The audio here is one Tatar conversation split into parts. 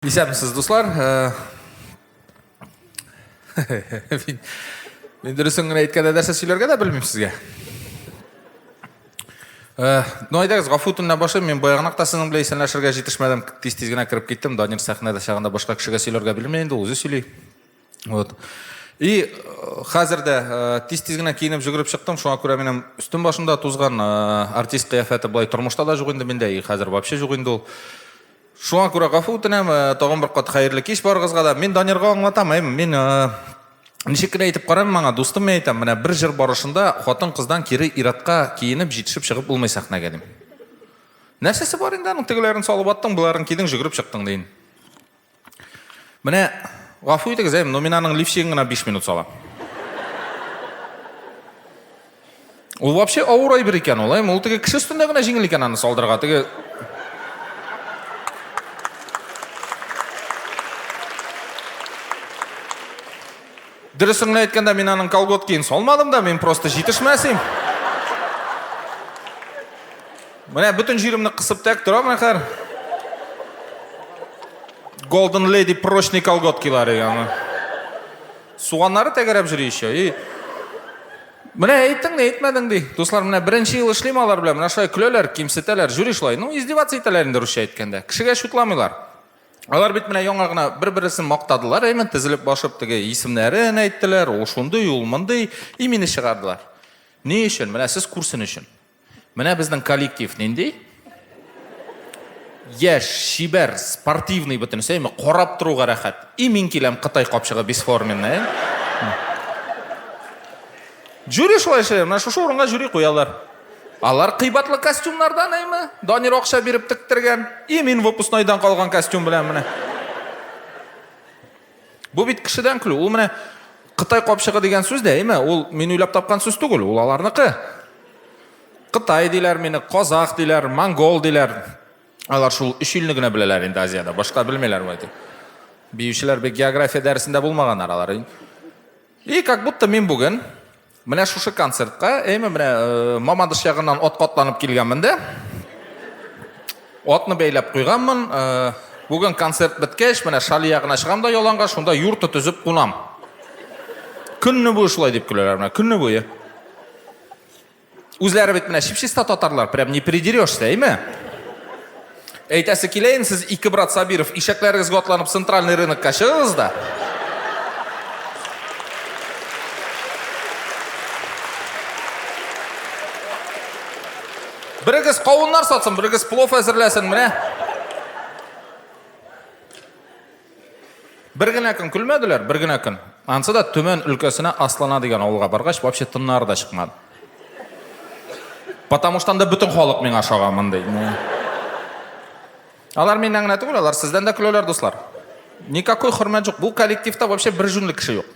Исәнмесез, дуслар. Мин, мин дөресен генә әйткәндә нәрсә сөйләргә дә белмим сезгә. Ну әйдәгез, гафу үтүеннән башлыйм. Мин баягынак та сезнең белән исәнләшергә җитешмәдем. Тиз-тиз генә кереп киттем. Данир сәхнәдә чагында башка кешегә сөйләргә белми инде, үзе сөйли. Вот. И э, хәзер дә э, тиз-тиз генә киенеп жүгереп чыктым, шуңа күрә минем өстем башымда тузган э, артист кыяфәте былай тормышта да юк инде миндә, и хәзер вообще юк инде ул. Шуңа күрә гафу үтенәм, тагын бер кат хәерле кич барыгызга да. Мин Данирга аңлатам, әй, мин ничек кенә әйтеп карам маңа, дустым мин әйтәм, менә бер җыр барышында хатын-кыздан кире иратка киенеп җитешеп чыгып булмый сәхнәгә дим. Нәрсәсе бар инде аның тегеләрен салып аттың, боларын кидең, жүгереп чыктың дин. Менә гафу итегез, әй, но мин аның лифчигын гына 5 минут салам. Ул вообще авыр әйбер икән ул, әйме? Ул теге кеше өстендә генә җиңел икән аны салдырга. Теге Дөресен генә әйткәндә, мин аның колготкин салмадым да, мин просто җитешмәсем. Менә бөтен җиремне кысып тәк тора менә хәзер. Golden Lady прочный колготкилары яны. Суганнары тәгәрәп йөри еще. И Менә әйттең дә әйтмәдең ди. Дуслар, менә беренче ел эшлим алар белән. Менә шулай көләләр, кимсетәләр, жюри шулай. Ну, издеваться итәләр инде русча әйткәндә. Кешегә шутламыйлар. Алар бит менә яңа гына бер-берсен мактадылар, әйме, тезелеп башып теге исемнәрен әйттеләр, ул шундый, ул мондый, имени чыгардылар. Ни өчен? Менә сез күрсен өчен. Менә безнең коллектив нинди? Яш, чибәр, спортивный бөтенесе, әйме, карап торуга рәхәт. И мин киләм Кытай капчыгы бесформенный. Жюри шулай эшләр, менә шушы урынга жюри куялар. Алар кыйбатлы костюмнардан әйме, Данир акча биреп тектергән. И мин выпускнойдан калган костюм белән менә. Бу бит кешедән көлү. Ул менә Кытай капчыгы дигән сүз дә, әйме? Ул мин уйлап тапкан сүз түгел, ул аларныкы. Кытай диләр мине, казах диләр, монгол диләр. Алар шул өч илне генә беләләр инде Азиядә, башка белмиләр бу әйтеп. Биючеләр бик география дәресендә булмаганнар алар. И как будто мин бүген Менә шушы концертка әйме менә э, Мамадыш ягыннан ат катланып килгәнмен дә. Атны бәйләп куйганмын. Э, бүген концерт беткәч, менә Шали ягына чыгам да яланга, шунда юрт төзеп кунам. Көнне буе шулай дип көләләр менә, көнне буе. Үзләре бит менә чипчиста татарлар, прям не придерешься, әйме? Әйтәсе килә инде, сез ике брат Сабиров, ишәкләрегезгә атланып центральный рынокка чыгыгыз да. Берегез кавыннар сатсын, берегез плов әзерләсен, менә. Бер генә көн көлмәделәр, бер генә көн. Ансы да Төмән өлкәсенә Аслана дигән авылга баргач, вообще тыннары да чыкмады. Потому что анда бөтен халык миңа ошаган мондый. Алар миннән генә түгел, алар сездән дә көләләр, дуслар. Никакой хөрмәт юк. Бу коллективта вообще бер җүнле кеше юк.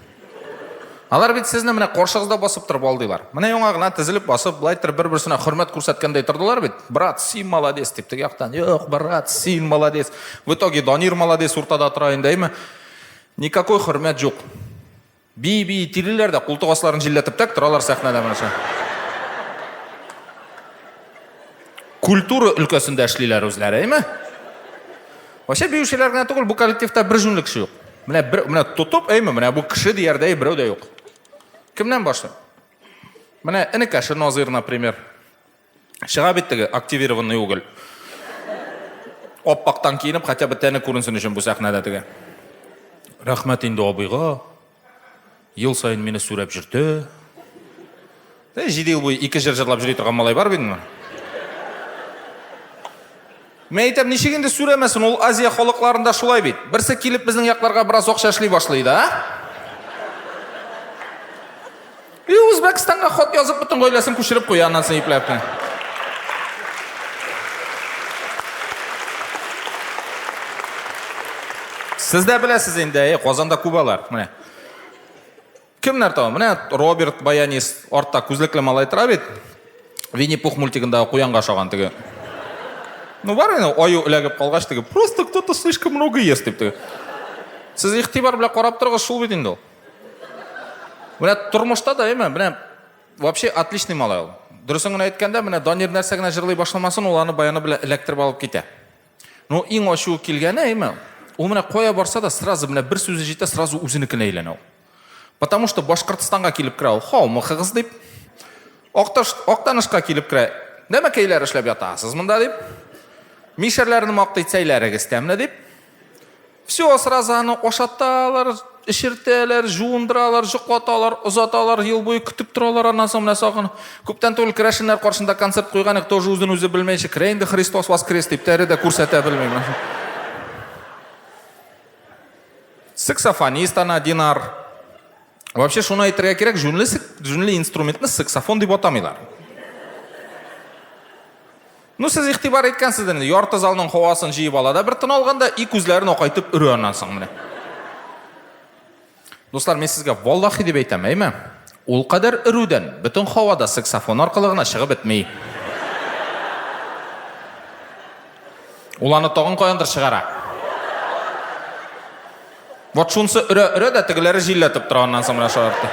Алар бит сезне менә каршыгызда басып торып алдыйлар. Менә яңа гына тезелеп басып, былай торып бер-берсенә хөрмәт күрсәткәндәй тордылар бит. Брат, син молодец дип теге яктан. Юк, брат, син молодец. В итоге Данир молодец уртада тора инде, әйме? Никакой хөрмәт юк. Би-би тилиләр дә култык асларын җилләтеп тәк торалар сәхнәдә менә. Культура өлкәсендә эшлиләр үзләре, әйме? Вообще биючеләр генә түгел, бу коллективта бер җүнле кеше юк. Менә бер менә тотып, әйме, менә бу кеше диярдәй берәү дә юк. Кемнән башлыйм? Менә энекәше Назир, например. Чыга бит теге активированный уголь. Аппактан киенеп, хотя бы тәне күренсен өчен бу сәхнәдә теге. Рәхмәт инде абыйга. Ел саен мине сүрәп җөртә. Ә җиде ел буе ике җыр җырлап җөри торган малай бар бит инде. Мин әйтәм, ничек инде сүрәмәсен, ул Азия халыкларында шулай бит. Берсе килеп безнең якларга бераз акча эшли башлый да. И Үзбәкстанга хат язып бөтен гаиләсен күчереп куя, аннан соң ипләп тә. Сез дә беләсез инде, әйе, Казанда Кубалар, менә. Кемнәр тау? Менә Роберт Баянис, артта күзлекле малай тора бит. Винни-Пух мультигында куянга шаган теге. Ну бар инде, аю эләгеп калгач теге, просто кто-то слишком много ест дип теге. Сез игътибар белән карап торыгыз, шул бит инде ул. Менә тормышта да әйме, менә вообще отличный малай ул. Дөресен генә әйткәндә, менә Данир нәрсә генә җырлый башламасын, ул аны баяны белән эләктереп алып китә. Ну, иң ачуы килгәне, әйме, ул менә кая барса да, сразу менә бер сүзе җитә, сразу үзенекенә әйләнә ул. Потому что Башкортстанга килеп керә ул, хаумыхыгыз дип. Акташ, Актанышка килеп керә, нәмәкәйләр эшләп ятасыз монда дип. Мишәрләрне мактый, сәйләрегез тәмле дип. Все, сразу аны ашаталар, эшертәләр, жуындыралар, җоклаталар, озаталар, ел буе көтеп торалар, аннан соң менә сагын. Күптән түгел керәшеннәр каршында концерт куйган идек, тоже үзен үзе белмәенчә, керә инде Христос воскрес дип, тәре дә күрсәтә белмим. Саксофонист ана Динар. Вообще шуны әйтергә кирәк, җүнле, җүнле инструментны саксофон дип атамыйлар. Ну, сез игътибар иткәнсездер инде, ярты залның һавасын җыеп ала да бер тын алганда и күзләрен акайтып өрә аннан соң менә. Дуслар, мин сезгә валлахи дип әйтәм, әйме? Ул кадәр өрүдән бөтен һавада саксофон аркылы гына чыгып бетми. Ул аны тагын каяндыр чыгара. Вот шунсы өрә-өрә дә тегеләре җилләтеп тора аннан соң менә шаяртты.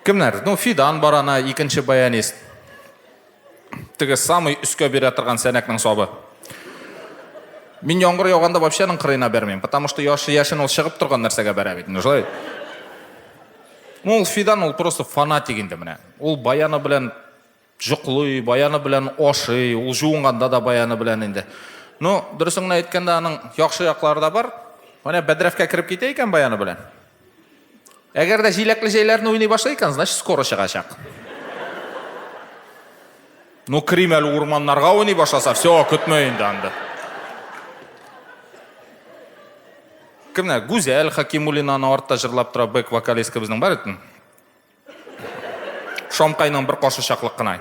Кемнәр? Ну, Фидан бар ана, икенче баянист. Теге самый өскә бирә торган сәнәкнең сабы. Мин яңгыр яуганда вообще аның кырыена бәрмим, потому что яшы яшен ул чыгып торган нәрсәгә бәрә бит. Ну, шулай. Ну, ул Фидан ул просто фанатик инде менә. Ул баяны белән Җоклый, баяны белән ашый, ул җуынганда да баяны белән инде. Ну, дөресен генә әйткәндә, аның яхшы яклары да бар. Менә бәдрәфкә кереп китә икән баяны белән. Әгәр дә җиләкле җәйләрне уйный башлый икән, значит, скоро чыгачак. Ну, керим әле урманнарга уйный башласа, все, көтмә инде анда. Кемнәр? Гүзәл Хакимуллинаны артта җырлап тора, бэк вокалистка безнең бар икән. Шамкайның бер кашы чаклык кына.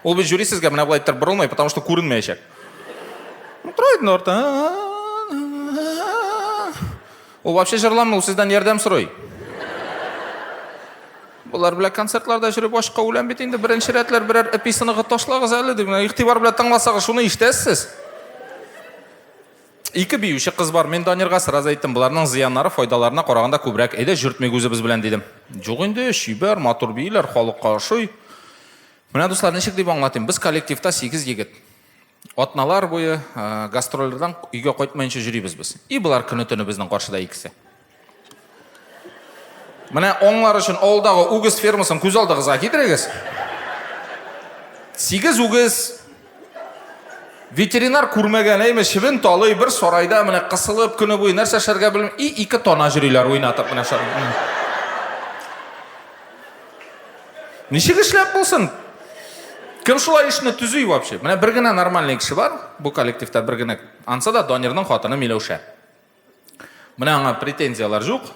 Ул бит жюри сезгә менә болай иттереп борылмый, потому что күренмәячәк. Тора инде арта. Ул вообще җырламый, ул сездән ярдәм сорый. Болар белән концертларда җөреп ашка үләм бит инде. Беренче рәтләр берәр эписыныгы ташлагыз әле дип, игътибар белән тыңласагыз, шуны ишетәсез. Ике биюче кыз бар. Мин Данирга сразу әйттем, боларның зыяннары файдаларына караганда күбрәк. Әйдә, җөртмик үзебез белән, дидем. Юк инде, чибәр, матур бииләр, халыкка ошый. Менә, дуслар, ничек дип аңлатыйм? Без коллективта сигез егет. Атналар буе гастрольләрдән өйгә кайтмаенча җөрибез без. И болар көне-төне безнең каршыда икесе. Менә аңлар өчен алдагы үгез фермасын күз алдыгызга китерегез. Сигез үгез ветеринар күрмәгән әйме чебен талый бер сарайда менә кысылып көне буе нәрсә эшләргә белми и ике тана җөриләр уйнатып менә шар. Ничек эшләп булсын? Кем шулай эшне төзи вообще? Менә бер генә нормальный кеше бар бу коллективта бер генә. Ансы да Данирның хатыны Миләүшә. Менә аңа претензияләр жук.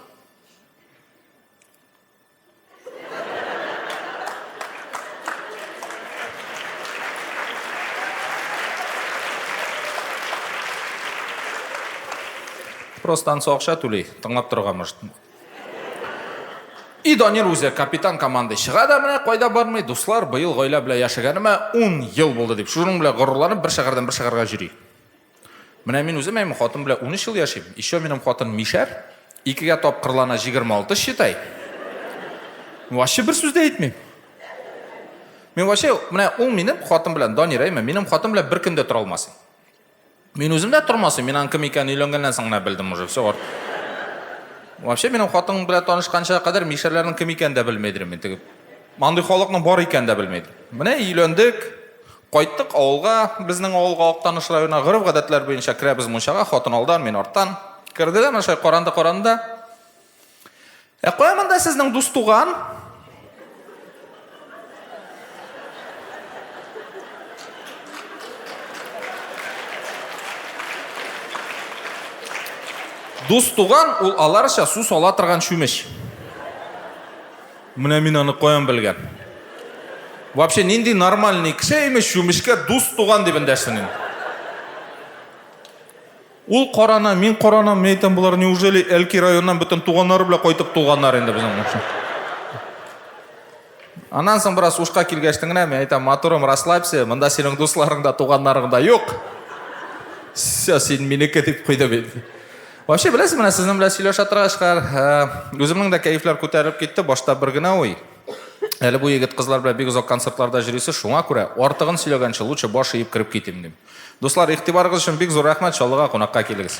Просто ансы акча түли, тыңлап торырга может. И Данир үзе капитан команды чыга да менә кайда бармый, дуслар, быел гаилә белән яшәгәнемә 10 ел булды дип, шуның белән горурланып бер шәһәрдән бер шәһәргә йөри. Менә мин үзем әйме хатын белән 13 ел яшим. Еще минем хатын мишәр. Икегә тапкырлана 26 считай. Вообще бер сүз дә әйтмим. Мин вообще менә ул минем хатын белән Данир әйме, минем хатын белән бер көндә тора алмасын. Мин үзем дә тормасым, мин аның кем икәнен өйләнгәннән соң гына белдем уже, все. Вообще минем хатын белән танышканча кадәр мишәрләрнең кем икәнен дә белмедем мин тегеп. Мандый халыкның бар икәнен дә белмедем. Менә өйләндек, Кайттык авылга, безнең авылга, Актаныш районына. Гореф-гадәтләр буенча керәбез мунчага, хатын алдан, мин арттан. Керделәр, менә шулай каранды-каранды. Ә кая монда сезнең дус туган? Дус туган ул аларча су сала торган чүмеч. Менә мин аны каян белгән? Вообще нинди нормальный кеше имеш чүмечкә дус туган дип эндәшсен инде. Ул карана, мин карана, мин әйтәм, болар неужели Әлки районнан бөтен туганнары белән кайтып туганнар инде безнең моңча. Аннан соң бераз ушка килгәчтен генә мин әйтәм, матурым, расслабься, монда синең дусларың да, туганнарың да юк. Все, син минеке дип куйды бит. Вообще, беләсез, менә сезнең белән сөйләшә торгачка, үземнең дә кәефләр күтәрелеп китте. Башта бер генә уй. Әле бу егет кызлар белән бик озак концертларда җөрисе, шуңа күрә артыгын сөйләгәнче лучше баш иеп кереп китим дим. Дуслар, игътибарыгыз өчен бик зур рәхмәт, Чаллыга кунакка килегез.